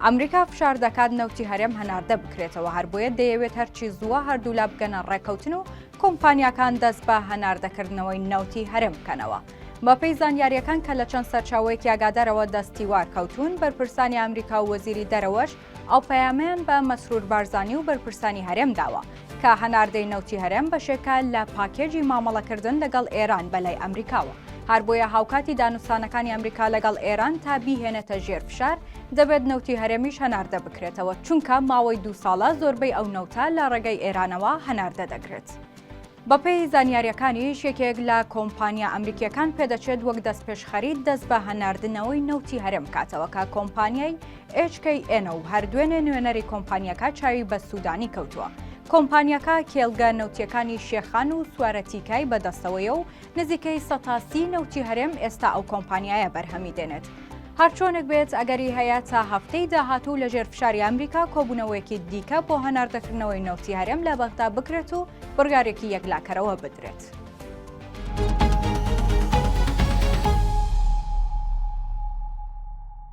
ئەمریکا فشار دەکات نەوتی هەرێم هەناردە بکرێتەوە هەر بۆیە دەیەوێت هەرچی زووە هەردوولا بگەنە ڕێککەوتن و کۆمپانیاکان دەست بە هەناردەکردنەوەی نەوتی هەرێم بکەنەوە. بەپێی زانیاریەکان کە لە چەند سەرچاوەیەکی ئاگادارەوە دەستیوار کەوتوون بەرپرسانی ئەمریکا و وەزیری دەرەوەش ئەو پەیامەیان بە مەسرور بارزانی و بەرپرسانی هەرێم داوە. کە هەناردەی نەوتی هەرێم بەشێکە لە پاکێجی مامەڵەکردن لەگەڵ ئێران بەلای ئەمریکاوە، هەربۆیە هاوکاتی دانوستانەکانی ئەمریکا لەگەڵ ئێران تا بیهێنێتە ژێر فشار، دەبێت نەوتی هەرێمیش هەناردە بکرێتەوە، چونکە ماوەی دوو ساڵە زۆربەی ئەو نەوتە لە ڕێگەی ئێرانەوە هەناردە دەکرێت. بەپێی زانیارییەکانیش یەکێک لە کۆمپانیا ئەمریکییەکان پێدەچێت وەک دەستپێشخەری دەست بە هەناردنەوەی نەوتی هەرێم بکاتەوە، کە کۆمپانیای ئێچ کەی ئێن و هەر دوێنێ نوێنەری کۆمپانیاکە چاوی بە سوودانی کەوتووە. کۆمپانیاکە کێڵگە نەوتییەکانی شێخان و سوارەتیکای بەدەستەوەیە و نزیکەی سەتا سی نەوتی هەرێم ئێستا ئەو کۆمپانیایە بەرهەمی دێنێت. هەرچۆنێک بێت ئەگەری هەیە تا هەفتەی داهاتوو لەژێر فشاری ئەمریکا کۆبوونەوەیەکی دیکە بۆ هەناردەکردنەوەی نەوتی هەرێم لە بەغدا بکرێت و بڕیارێکی یەکلاکەرەوە بدرێت.